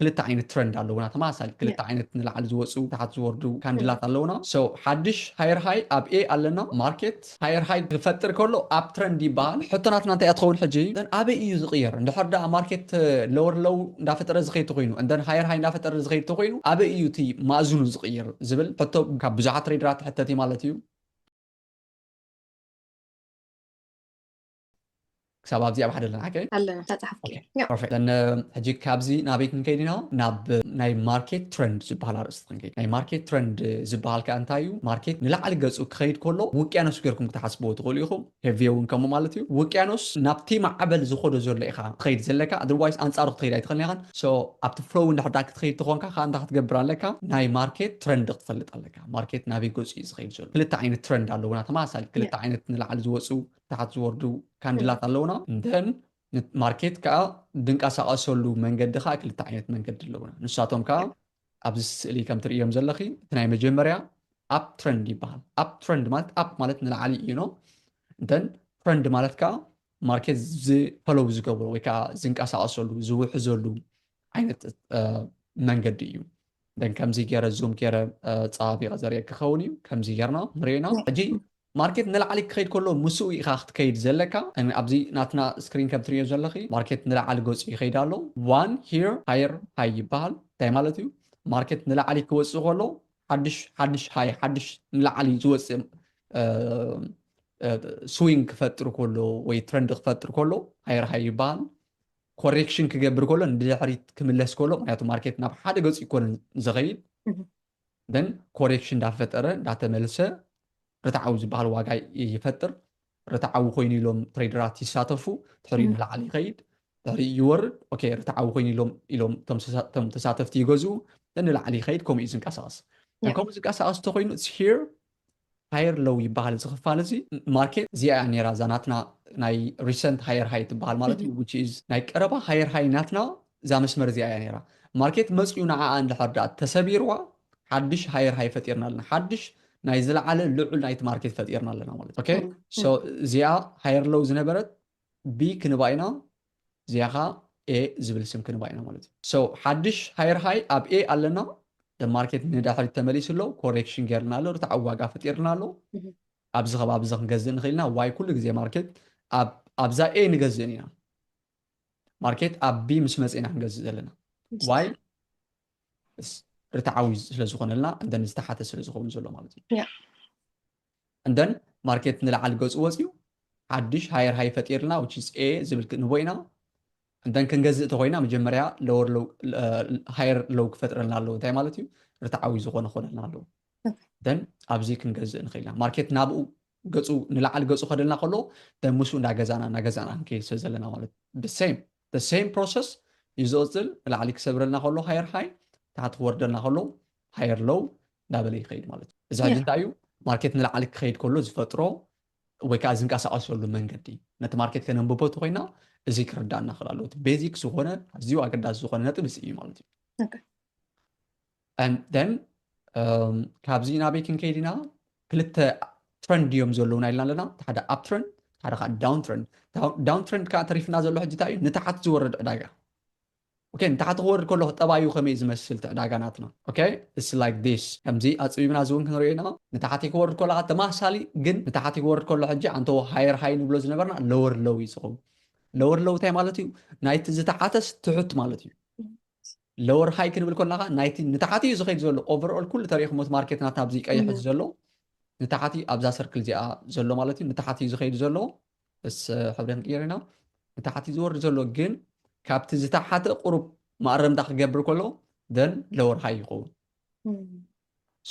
ክልተ ዓይነት ትረንድ ኣለውና ተመሳሳሊ ክልተ ዓይነት ንላዕሊ ዝወፁ ታሓት ዝወርዱ ካንድላት ኣለውና so ሓድሽ ሃየር ሃይ ኣብ a ኣለና ማርኬት ሃየር ሃይ ክፈጥር ከሎ ኣብ ትረንድ ይበሃል ሕቶ ናትና እንታይ እያ ትኸውን ሕጂ then ኣበይ እዩ ዝቕየር እንድሕር ደኣ ማርኬት lower low እንዳፈጠረ ዝኸይድ ተኾይኑ and then ሃየር ሃይ እንዳፈጠረ ዝኸይድ ተኾይኑ ኣበይ እዩ እቲ ማእዝኑ ዝቕይር ዝብል ሕቶ ካብ ብዙሓት ትሬደራት ትሕተት እዩ ማለት እዩ። ክሳብ ኣብዚ ኣብ ሓደ ኣለና ሓቀይ? ኣለና ተጻሕፍኪ እያ። ፐርፌክት ዘን ሕጂ ካብዚ ናበይ ክንከይድ ኢና? ናብ ናይ ማርኬት ትረንድ ዝበሃል ኣርእስቲ ክንከይድ። ናይ ማርኬት ትረንድ ዝበሃል ከኣ እንታይ እዩ? ማርኬት ንላዕሊ ገጹ ክኸይድ ከሎ ውቅያኖስ ጌርኩም ክትሓስብዎ ትኽእሉ ኢኹም፣ ሄቪ እውን ከምኡ ማለት እዩ። ውቅያኖስ ናብቲ ማዕበል ዝኸዶ ዘሎ ኢኻ ትኸይድ ዘለካ፣ ኣዘርዋይስ ኣንጻሩ ክትኸይድ ኣይትኽእልን ኢኻን። ሶ ኣብቲ ፍሎው እንድሕር ደኣ ክትኸይድ ተኾንካ ከኣ እንታይ ክትገብር ኣለካ? ናይ ማርኬት ትረንድ ክትፈልጥ ኣለካ። ማርኬት ናበይ ገጹ እዩ ዝኸይድ ዘሎ? ክልተ ዓይነት ትረንድ ኣለዉና ተመሳሳሊ ክልተ ዓይነት ንላዕሊ ዝወጹ ታሕት ዝወርዱ ካንድላት ኣለውና እንተን ማርኬት ከዓ ድንቀሳቀሰሉ መንገዲ ከዓ ክልተ ዓይነት መንገዲ ኣለውና ንሳቶም ከዓ ኣብዚ ስእሊ ከም ትርእዮም ዘለኺ እቲ ናይ መጀመርያ ኣፕ ትረንድ ይበሃል ኣፕ ትረንድ ማለት ኣፕ ማለት ንላዕሊ እዩ ኖ እንተን ትረንድ ማለት ከዓ ማርኬት ዝፈለው ዝገብሮ ወይ ከዓ ዝንቀሳቀሰሉ ዝውሕዘሉ ዓይነት መንገዲ እዩ ደን ከምዚ ገረ ዙም ገረ ፀባቢቀ ዘርየ ክኸውን እዩ ከምዚ ገርና ንሪኦ ኢና ሕጂ ማርኬት ንላዕሊ ክኸይድ ከሎ ምስኡ ኢኻ ክትከይድ ዘለካ ኣብዚ ናትና ስክሪን ከም ትሪዮ ዘለኺ ማርኬት ንላዕሊ ገፁ ይኸይድ ኣሎ ዋን ሂር ሃየር ሃይ ይበሃል እንታይ ማለት እዩ ማርኬት ንላዕሊ ክወፅእ ከሎ ሓድሽ ሓድሽ ሃይ ሓድሽ ንላዕሊ ዝወፅእ ስዊንግ ክፈጥር ከሎ ወይ ትረንድ ክፈጥር ከሎ ሃየር ሃይ ይበሃል ኮሬክሽን ክገብር ከሎ ንድሕሪት ክምለስ ከሎ ምክንያቱ ማርኬት ናብ ሓደ ገፅ ይኮነ ዝኸይድ ን ኮሬክሽን እንዳፈጠረ እንዳተመልሰ ርትዓዊ ዝበሃል ዋጋ ይፈጥር ርትዓዊ ኮይኑ ኢሎም ትሬደራት ይሳተፉ ድሕሪ ንላዕሊ ይኸይድ ድሕሪ ይወርድ ኦኬ ርትዓዊ ኮይኑ ኢሎም ኢሎም ቶም ተሳተፍቲ ይገዝኡ ንላዕሊ ይኸይድ ከምኡ እዩ ዝንቀሳቀስ ከምኡ ዝንቀሳቀስ ተኮይኑ ሂር ሃየር ሎው ይበሃል እዚ ክፋል እዚ ማርኬት እዚኣ እያ ነይራ እዛ ናትና ናይ ሪሰንት ሃየር ሃይ ትበሃል ማለት እዩ ዊች ኢዝ ናይ ቀረባ ሃየር ሃይ ናትና እዛ መስመር እዚኣ እያ ነይራ ማርኬት መፅኡ ንዓኣ እንድሕር ድኣ ተሰቢርዋ ሓድሽ ሃየር ሃይ ፈጢርና ኣለና ሓድሽ ናይ ዝለዓለ ልዑል ናይቲ ማርኬት ፈጢርና ኣለና ማለት ኦኬ ሶ እዚኣ ሃየር ሎው ዝነበረት ብ ክንባ ኢና እዚኣ ከኣ a ዝብል ስም ክንባ ኢና ማለት እዩ so ሓድሽ hire high ኣብ a ኣለና the market ንዳሕሪት ተመሊሱ ኣሎ correction ጌርና ኣሎ ርትዓዊ ዋጋ ፈጢርና ኣሎ ኣብዚ ከባቢ እዚ ክንገዝእ ንኽእል ኢና why ኩሉ ግዜ ማርኬት ኣብ ኣብዛ a ንገዝእን ኢና ማርኬት ኣብ b ምስ መጽ ኢና ክንገዝእ ዘለና why ርትዓዊ ስለ ዝኾነልና and then ዝተሓተ ስለ ዝኸውን ዘሎ ማለት እዩ እንደን ማርኬት ንላዕሊ ገጹ ወጽዩ ሓድሽ ሃየር ሃይ ፈጢርልና which is A ዝብል ክንህቦ ኢና እንደን ክንገዝእ ተኾይና መጀመርያ lower low ሃየር uh, low ክፈጥረልና ኣለዎ እንታይ ማለት እዩ ርትዓዊ ዝኾነ ኮነልና ኣለዎ ደን ኣብዚ ክንገዝእ ንኽእል ኢና ማርኬት ናብኡ ገፁ ንላዕሊ ገፁ ከደልና ከሎ ደን ምስኡ እንዳገዛና እናገዛና ክንከይድ ስለ ዘለና ማለት ብሴም ሴም ፕሮሰስ እዩ ዝቕፅል ንላዕሊ ክሰብረልና ከሎ ሃየር ሃይ ታሕቲ ክወርደልና ከሎ ሃየር ሎው ናበለ ይኸይድ ማለት እዩ እዚ ሕጂ እንታይ እዩ ማርኬት ንላዕሊ ክኸይድ ከሎ ዝፈጥሮ ወይ ከዓ ዝንቀሳቀሰሉ መንገዲ ነቲ ማርኬት ከነንብቦ ተኮይና እዚ ክርዳእና ክእል ኣለዎ ቤዚክ ዝኾነ ኣዝዩ ኣገዳሲ ዝኾነ ነጥብ እዚ እዩ ማለት እዩ ደን ካብዚ ናበይ ክንከይድ ኢና ክልተ ትረንድ እዮም ዘለውና ኢልና ኣለና እቲ ሓደ ኣብ ትረንድ ሓደ ከዓ ዳውን ትረንድ ዳውን ትረንድ ከዓ ተሪፍና ዘሎ ሕጂ እንታይ እዩ ንታሓት ዝወረድ ዕዳጋ ኦኬ ንታሕቲ ክወርድ ከለኹ ጠባዩ ከመይ ዝመስል እቲ ዕዳጋ ናትና ኦኬ ኢትስ ላይክ ዲስ ከምዚ ኣጽቢብና እዚ ውን ክንሪኦ ኢና ንታሕቲ ክወርድ ከሎ ከኣ ተማሳሳሊ ግን ንታሕቲ ክወርድ ከሎ ሕጂ ኣንተዎ ሃየር ሃይ ንብሎ ዝነበርና ለወር ሎው እዩ ዝኸውን ለወር ሎው እንታይ ማለት እዩ ናይቲ ዝተሓተስ ትሑት ማለት እዩ ለወር ሃይ ክንብል ከለና ከኣ ናይቲ ንታሕቲ እዩ ዝኸይድ ዘሎ ኦቨርኦል ኩሉ ተሪእኹም እቲ ማርኬት ናትና ኣብዚ ቀይሕ እዚ ዘሎ ንታሕቲ ኣብዛ ሰርክል እዚኣ ዘሎ ማለት እዩ ንታሕቲ እዩ ዝኸይድ ዘሎ ምስ ሕብረን ቂሪና ንታሕቲ ዝወርድ ዘሎ ግን ካብቲ ዝተሓተ ቁሩብ መኣረምታ ክገብር ከሎ then lower high ይኸውን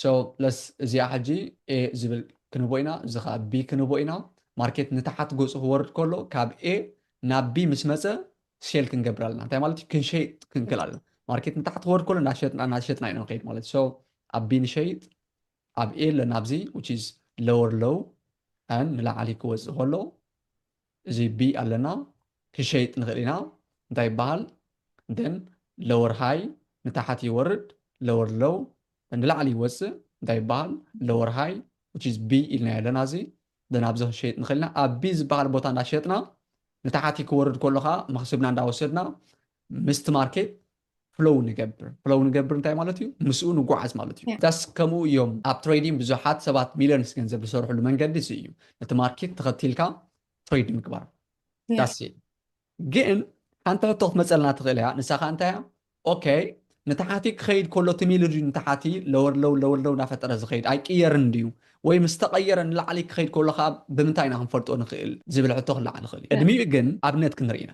so let's እዚኣ ሕጂ a ዝብል ክንህቦ ኢና እዚ ከዓ b ክንህቦ ኢና ማርኬት ንታሓት ገጹ ክወርድ ከሎ ካብ a ናብ b ምስ መጸ ሴል ክንገብር ኣለና እንታይ ማለት እዩ ክንሸይጥ ክንክል ኣለና ማርኬት ንታሕት ክወርድ ከሎ እናሸጥና እናሸጥና ኢና ንኸይድ ማለት እዩ so ኣብ b ንሸይጥ ኣብ ኤለን ኣብዚ which is lower low and ንላዕሊ ክወጽእ ከሎ እዚ B ኣለና ክሸይጥ ንኽእል ኢና እንታይ ይበሃል then lower high ንታሕት ይወርድ lower low ንላዕሊ ይወጽእ እንታይ ይበሃል lower high which is B ኢልና ኣለና እዚ then ኣብዚ ክንሸይጥ ንኽእል ኢና ኣብ B ዝበሃል ቦታ እንዳሸጥና ንታሕቲ ክወርድ ከሎ ከዓ መኽስብና እንዳወሰድና ምስቲ ማርኬት ፍሎው ንገብር ፍሎው ንገብር እንታይ ማለት እዩ ምስኡ ንጓዓዝ ማለት እዩ ዳስ ከምኡ እዮም ኣብ ትሬዲንግ ብዙሓት ሰባት ሚልዮንስ ገንዘብ ዝሰርሕሉ መንገዲ እዚ እዩ ነቲ ማርኬት ተኸቲልካ ትሬድ ምግባር ዳስ ግን ሓንቲ ሕቶ ክትመፀልና ትኽእል እያ ንሳ ከዓ እንታይ እያ ኦኬ ንታሓቲ ክኸይድ ከሎ እቲ ሚሉ ድዩ ንታሓቲ ለወርለው ለወርለው እናፈጠረ ዝኸይድ ኣይቅየርን ድዩ ወይ ምስ ተቐየረ ንላዕሊ ክኸይድ ከሎ ከዓ ብምንታይ ኢና ክንፈልጦ ንኽእል ዝብል ሕቶ ክለዓል ይኽእል እዩ ቅድሚኡ ግን ኣብነት ክንርኢ ኢና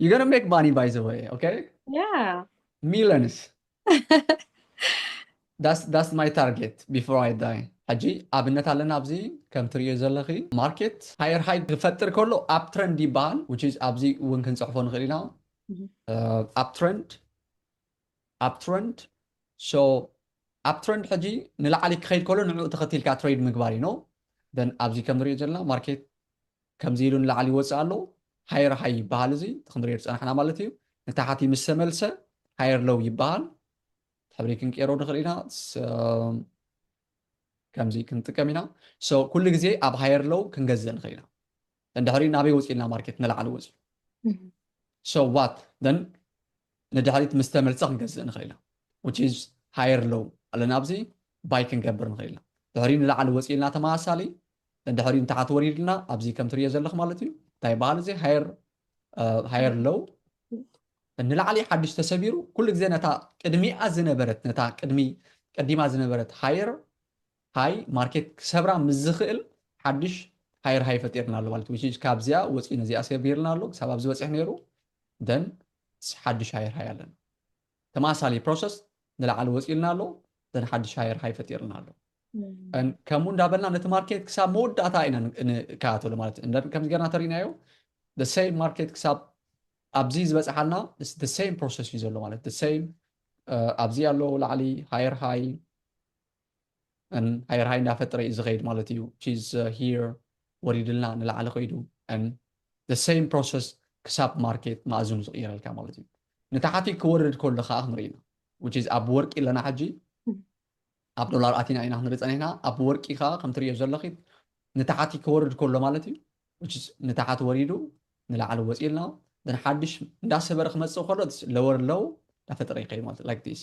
You're gonna make money by the way, okay? Yeah. Millions. that's that's my target before I die. ሕጂ ኣብነት ኣለና ኣብዚ ከም ትርእዮ ዘለኺ ማርኬት ሃየር ሃይ ክፈጥር ከሎ ኣብ ትረንድ ይበሃል ዊች ኣብዚ እውን ክንፅሕፎ ንኽእል ኢና ኣብ ትረንድ ኣብ ትረንድ ሶ ኣብ ትረንድ ሕጂ ንላዕሊ ክኸይድ ከሎ ንዕኡ ተኸቲልካ ትሬድ ምግባር እዩ ኖ ደን ኣብዚ ከም ንሪኦ ዘለና ማርኬት ከምዚ ኢሉ ንላዕሊ ይወጽእ ኣሎ ሃየር ሃይ ይበሃል እዚ እቲ ክንሪኦ ዝጸናሕና ማለት እዩ ንታሕቲ ምስ ተመልሰ ሃየር ሎው ይበሃል ሕብሪ ክንቀይሮ ንኽእል ኢና ከምዚ ክንጥቀም ኢና ሶ ኩሉ ግዜ ኣብ ሃየር ሎው ክንገዝእ ንኽእል ኢና እንድሕሪ ናበይ ወፂልና ማርኬት ንላዕሊ ወፅዩ ሶ ዋት ን ንድሕሪት ምስ ተመልሰ ክንገዝእ ንኽእል ኢና ዊች ኢዝ ሃየር ሎው ኣለና ኣብዚ ባይ ክንገብር ንኽእል ኢና ድሕሪ ንላዕሊ ወፂልና ተመሳሳሊ ድሕሪኡ ታሕቲ ወሪድና ኣብዚ ከም ትርእዮ ዘለኽ ማለት እዩ እንታይ በሃል እዚ ሃየር ሃየር ሎው ንላዕሊ ሓድሽ ተሰቢሩ ኩሉ ግዜ ነታ ቅድሚኣ ዝነበረት ነታ ቅድሚ ቀዲማ ዝነበረት ሃየር ሃይ ማርኬት ክሰብራ ምስ ዝኽእል ሓድሽ ሃየር ሃይ ፈጢርና ኣሎ ማለት ዊች ካብዚኣ ወፂኡ ነዚኣ ሰቢርና ኣሎ ክሳብ ኣብዚ በፂሕ ነይሩ ደን ሓድሽ ሃየር ሃይ ኣለና ተመሳሳሊ ፕሮሰስ ንላዕሊ ወፂኡልና ኣሎ ዘን ሓድሽ ሃየር ሃይ ፈጢርና ኣሎ ከምኡ እንዳበልና ነቲ ማርኬት ክሳብ መወዳእታ ኢና ንከኣተሉ ማለት እዩ ከምዚ ገርና ተሪእናዮ ሰይም ማርኬት ክሳብ ኣብዚ ዝበፅሓልና ሰይም ፕሮሰስ እዩ ዘሎ ማለት ሰይም ኣብዚ ኣሎ ላዕሊ ሃየር ሃይ and ኣየር ሃይ እንዳፈጠረ እዩ ዝኸይድ ማለት እዩ which is here ወሪድልና ንላዕሊ ከይዱ and the same process ክሳብ ማርኬት ማእዝኑ ዝቕይረልካ ማለት እዩ ንታሕቲ ክወርድ ከሎ ከዓ ክንርኢ ኢና which is ኣብ ወርቂ ኣለና ሕጂ ኣብ ዶላር ኣቲና ኢና ክንርኢ ፀኒሕና ኣብ ወርቂ ከዓ ከም ትሪኦ ዘለኺ ንታሓቲ ክወርድ ከሎ ማለት እዩ ንታሓቲ ወሪዱ ንላዕሊ ወፂልና ን ሓድሽ እንዳሰበረ ክመፅእ ከሎ ለወር ለው እንዳፈጠረ ይኸይድ ማለት ላይክ ዲስ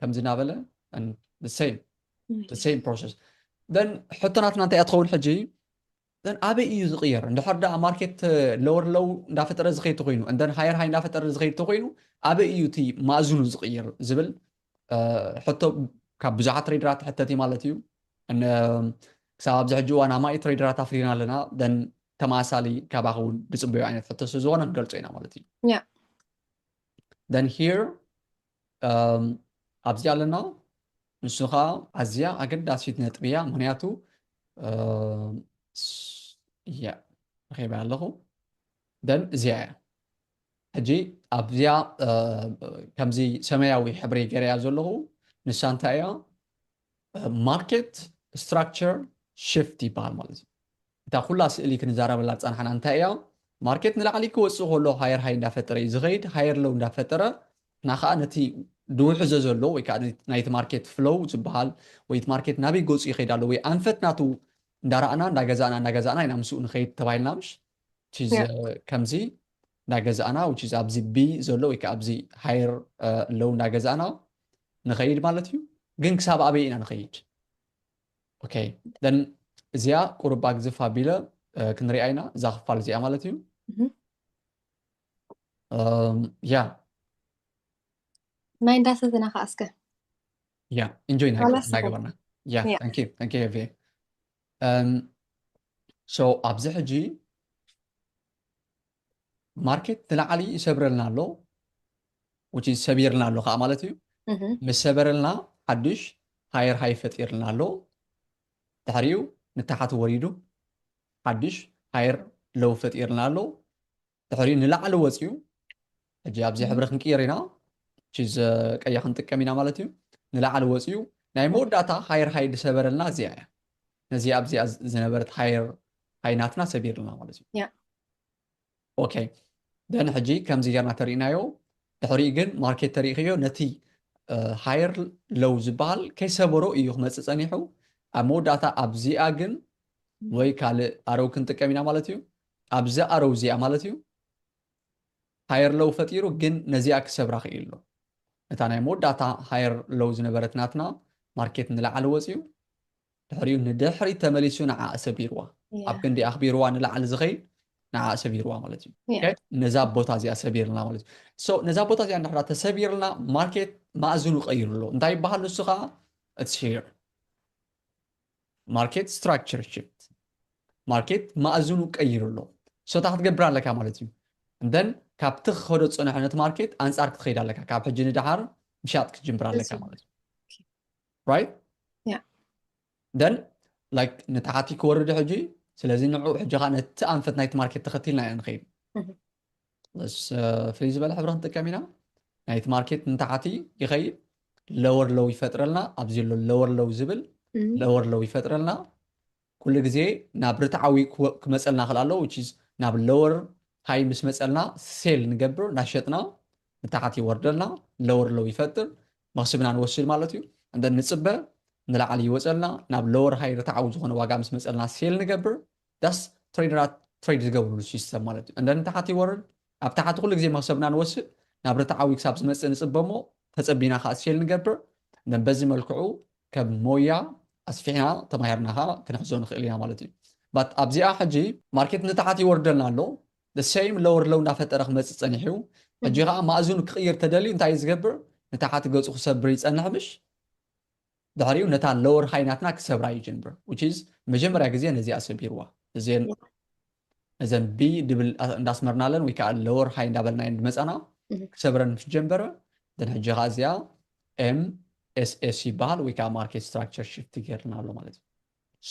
ከምዚ እናበለ ሴም ፕሮሰስ ሕቶናትና እንታይ እያ ትኸውን ሕጂ እን ኣበይ እዩ ዝቕየር እንድሕር ዳኣ ማርኬት ለወር ለው እንዳፈጠረ ዝኸይድ ተኮይኑ እንደን ሃየር ሃይ እንዳፈጠረ ዝኸይድ ተኮይኑ ኣበይ እዩ እቲ ማእዝኑ ዝቕየር ዝብል ሕቶ ካብ ብዙሓት ትሬደራት ሕተት እዩ ማለት እዩ ክሳብ ኣብዚ ሕጂ እዋን ኣማኢ ትሬደራት ኣፍሪና ኣለና ደን ተመሳሳሊ ካባኸ እውን ዝፅበዩ ዓይነት ሕቶ ስለዝኾነ ክንገልፆ ኢና ማለት እዩ ደን ሂር ኣብዚ ኣለና ንሱ ከዓ ኣዝያ ኣገዳሲት ነጥቢ እያ ምክንያቱ እያ ረኺበያ ኣለኹ ደን እዚኣ እያ ሕጂ ኣብዚያ ከምዚ ሰማያዊ ሕብሪ ገረያ ዘለኹ ንሳ እንታይ እያ ማርኬት ስትራክቸር ሽፍት ይበሃል ማለት እዩ። እታ ኩላ ስእሊ ክንዛረበላ ዝጸናሕና እንታይ እያ? ማርኬት ንላዕሊ ክወጽእ ከሎ ሃየር ሃይ እንዳፈጠረ እዩ ዝኸይድ፣ ሃየር ሎው እንዳፈጠረ እና ከዓ ነቲ ድውሕዘ ዘሎ ወይ ከዓ ናይቲ ማርኬት ፍሎው ዝበሃል ወይ እቲ ማርኬት ናበይ ገጹ ይኸይድ ኣሎ ወይ ኣንፈት ናቱ እንዳረኣና እንዳገዛእና እንዳገዛእና ኢና ምስኡ ንኸይድ ተባሂልና ምሽ ከምዚ እንዳገዛእና ኣብዚ ቢ ዘሎ ወይ ከዓ ኣብዚ ሃየር ሎው እንዳገዛእና ንኸይድ ማለት እዩ ግን ክሳብ ኣበይ ኢና ንኸይድ ኦኬ ደን እዚኣ ቁሩብ ኣግዝፍ ኣቢለ ክንሪኣ ኢና እዛ ክፋል እዚኣ ማለት እዩ ያ ናይ እንዳሰትና ከዓ እስከ ያ እንጆይ ናገበርና ያ ታንኪ ታንኪ ሄቪ ሶ ኣብዚ ሕጂ ማርኬት ንላዕሊ ይሰብረልና ኣሎ which is ሰቢርልና ኣሎ ከዓ ማለት እዩ እህ፣ ምስ ሰበረልና ሓዱሽ ሃየር ሃይ ፈጢርልና ኣሎ ድሕሪኡ ንታሕቲ ወሪዱ ሓዱሽ ሃየር ለው ፈጢርልና ኣሎ ድሕሪኡ ንላዕሊ ወፂኡ ሕጂ ኣብዚ ሕብሪ ክንቅይር ኢና which is ቀያ ክንጥቀም ኢና ማለት እዩ ንላዕሊ ወፂኡ ናይ መወዳእታ ሃየር ሃይ ዝሰበረልና እዚኣ እያ ነዚ ኣብዚኣ ዝነበረት ሃየር ሃይ ናትና ሰቢርልና ማለት እዩ ያ ኦኬ ደን ሕጂ ከምዚ ጌርና ተሪእናዮ ድሕሪኡ ግን ማርኬት ተሪእክዮ ነቲ ሃየር ሎው ዝበሃል ከይሰበሮ እዩ ክመፅእ ፀኒሑ ኣብ መወዳእታ ኣብዚኣ ግን ወይ ካልእ ኣረው ክንጥቀም ኢና ማለት እዩ ኣብዚ ኣረው እዚኣ ማለት እዩ ሃየር ሎው ፈጢሩ ግን ነዚኣ ክሰብራ ክኢሉ ኣሎ እታ ናይ መወዳእታ ሃየር ሎው ዝነበረት ናትና ማርኬት ንላዕሊ ወፅዩ ድሕሪኡ ንድሕሪት ተመሊሱ ንዓኣ ሰቢርዋ። ኣብ ክንዲ ኣኽቢርዋ ንላዕሊ ዝኸይድ ንዓኣ ሰቢርዋ ማለት እዩ። ነዛ ቦታ እዚኣ ሰቢርልና ማለት እዩ። ነዛ ቦታ እዚኣ ንድሕራ ተሰቢርልና ማርኬት ማእዝኑ ቀይሩ ኣሎ። እንታይ ይበሃል ንሱ ከዓ ኢትስ ሄር ማርኬት ስትራክቸር ሽፍት ማርኬት ማእዝኑ ቀይሩ ኣሎ። ሶታ ክትገብር ኣለካ ማለት እዩ። እንደን ካብቲ ክኸዶ ዝፀንሐ ነቲ ማርኬት ኣንፃር ክትኸይድ ኣለካ። ካብ ሕጂ ንደሓር ምሻጥ ክትጅምር ኣለካ ማለት እዩ። right yeah then like ንታሕቲ ክወርድ ሕጂ ስለዚ ንዑ ሕጂ ከዓ ነቲ ኣንፈት ናይቲ ማርኬት ተኸቲልና ኢና ንኸይድ ስ ፍልይ ዝበለ ሕብሪ ክንጥቀም ኢና ናይቲ ማርኬት ንታሕቲ ይኸይድ ለወር ለው ይፈጥረልና ኣብዚ ሎ ለወር ለው ዝብል ለወር ለው ይፈጥረልና ኩሉ ግዜ ናብ ርትዓዊ ክመፀልና ክል ኣሎ ናብ ለወር ሃይ ምስ መፀልና ሴል ንገብር ናሸጥና ንታሕቲ ይወርደልና ለወር ለው ይፈጥር መኽስብና ንወስድ ማለት እዩ and ንፅበ ንላዕሊ ይወፀልና ናብ lower high ርትዓዊ ዝኾነ ዋጋ ምስ መፀልና ሴል ንገብር thus ትሬደራት ትሬድ ዝገብርሉ ሲስተም ማለት እዩ and then ንታሕቲ ይወርድ ኣብ ታሕቲ ኩሉ ግዜ መኽሰብና ንወስድ ናብ ርትዓዊ ክሳብ ዝመፅእ ንፅበ እሞ ተፀቢና ከዓ ሴል ንገብር and በዚ መልክዑ ከም ሞያ ኣስፊሕና ተማሂርና ከዓ ክንሕዞ ንኽእል ኢና ማለት እዩ but ኣብዚኣ ሕጂ ማርኬት ንታሕቲ ይወርደልና ኣሎ The same lower low እንዳፈጠረ ክመጽእ ጸኒሑ እዩ ሕጂ ከኣ ማእዝኑ ክቅይር ተደልዩ እንታይ እዩ ዝገብር ንታሓቲ ገጹ ክሰብር ይጸንሕ ምሽ ድሕሪኡ ነታ lower high ናትና ክሰብራ ይጅንብር which is መጀመርያ ግዜ ነዚኣ ሰቢርዋ እዘን እዘን ቢ ድብል እንዳስመርናለን ወይ ከኣ lower high እንዳበልናየን ድመጻና ክሰብረን ምስ ጀንበረ ደን ሕጂ ከኣ እዚኣ ኤም ኤስኤስ ይበሃል ወይ ከኣ ማርኬት ስትራክቸር ሽፍት ገርና ኣሎ ማለት እዩ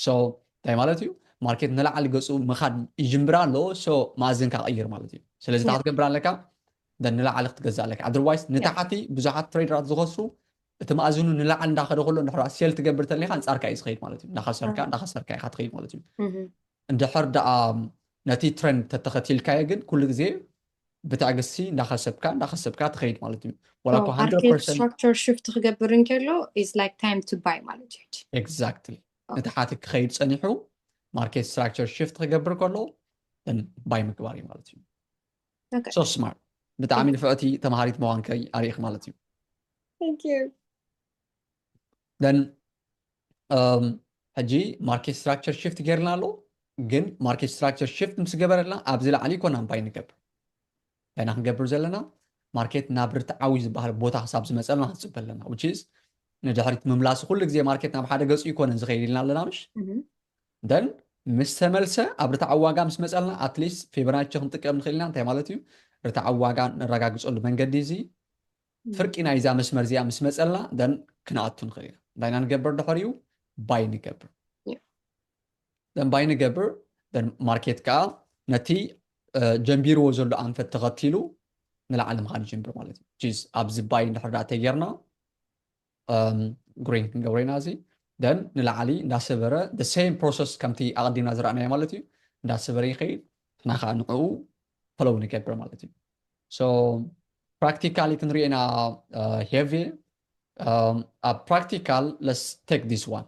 so እንታይ ማለት እዩ ማርኬት ንላዕሊ ገፁ ምኻድ ይጅምር ኣሎ so መኣዝንካ ቀይር ማለት እዩ ስለዚ እንታይ ክትገብር ኣለካ then ንላዕሊ ክትገዝእ ኣለካ otherwise ንታሕቲ ብዙሓት ትሬደራት ዝኸስሩ እቲ መኣዝኑ ንላዕሊ እንዳኸደ ከሎ እንድሕር ሴል ትገብር ተለካ ኣንፃርካ እዩ ዝኸይድ ማለት እዩ እንዳኸሰርካ እንዳኸሰርካ ኢኻ ትኸይድ ማለት እዩ እንድሕር ደኣ ነቲ ትረንድ ተተኸቲልካዮ ግን ኩሉ ግዜ ብትዕግስቲ እንዳኸሰብካ እንዳኸሰብካ ትኸይድ ማለት እዩ ዋላ እኮ ኣርኪስትራክቸር ሽፍት ክገብር እንከሎ ኢዝ ላይክ ታይም ቱ ባይ ማለት እዩ ኤግዛክትሊ እቲ ሓቲ ክኸይድ ፀኒሑ ማርኬት ስትራክቸር ሽፍት ክገብር ከሎ ባይ ምግባር እዩ ማለት እዩ ሶ ስማርት ብጣዕሚ ንፍዕቲ ተምሃሪት መዋንከይ ኣርእኽ ማለት እዩ ደን ሕጂ ማርኬት ስትራክቸር ሽፍት ጌርና ኣሎ ግን ማርኬት ስትራክቸር ሽፍት ምስ ገበረልና ኣብዚ ላዕሊ ኮን ኣምባይ ንገብር ገና ክንገብር ዘለና ማርኬት ናብ ርትዓዊ ዝበሃል ቦታ ክሳብ ዝመፀልና ክንፅበ ኣለና ውችዝ ንድሕሪት ምምላሲ ኩሉ ግዜ ማርኬት ናብ ሓደ ገፁ ይኮነን ዝኸይድ ኢልና ኣለና ምሽ ደን ምስ ተመልሰ ኣብ ርትዓዊ ዋጋ ምስ መፀልና ኣትሊስት ፌብራቸ ክንጥቀም ንኽእል ኢና እንታይ ማለት እዩ ርትዓዊ ዋጋ ነረጋግፀሉ መንገዲ እዚ ፍርቂ ናይዛ መስመር እዚኣ ምስ መጸልና then ክንኣቱ ንኽእል ኢና። እንታይ ኢና ንገብር ድሕሪኡ? ባይ ንገብር። then ባይ ንገብር then ማርኬት ከኣ ነቲ ጀንቢርዎ ዘሎ ኣንፈት ተኸቲሉ ንላዕሊ ምኻድ ይጅምር ማለት እዩ። which is ኣብዚ ባይ እንድሕር ደኣ ተጌርና ግሪን ክንገብሮ ኢና እዚ ደን ንላዕሊ እንዳሰበረ the same process ከምቲ ኣቐዲምና ዝረኣናዮ ማለት እዩ እንዳሰበረ ይኸይድ ንሕና ከዓ ንዕኡ ፈለው ንገብር ማለት እዩ so practically ክንሪኤና ሄቪ ኣብ practical let's take this one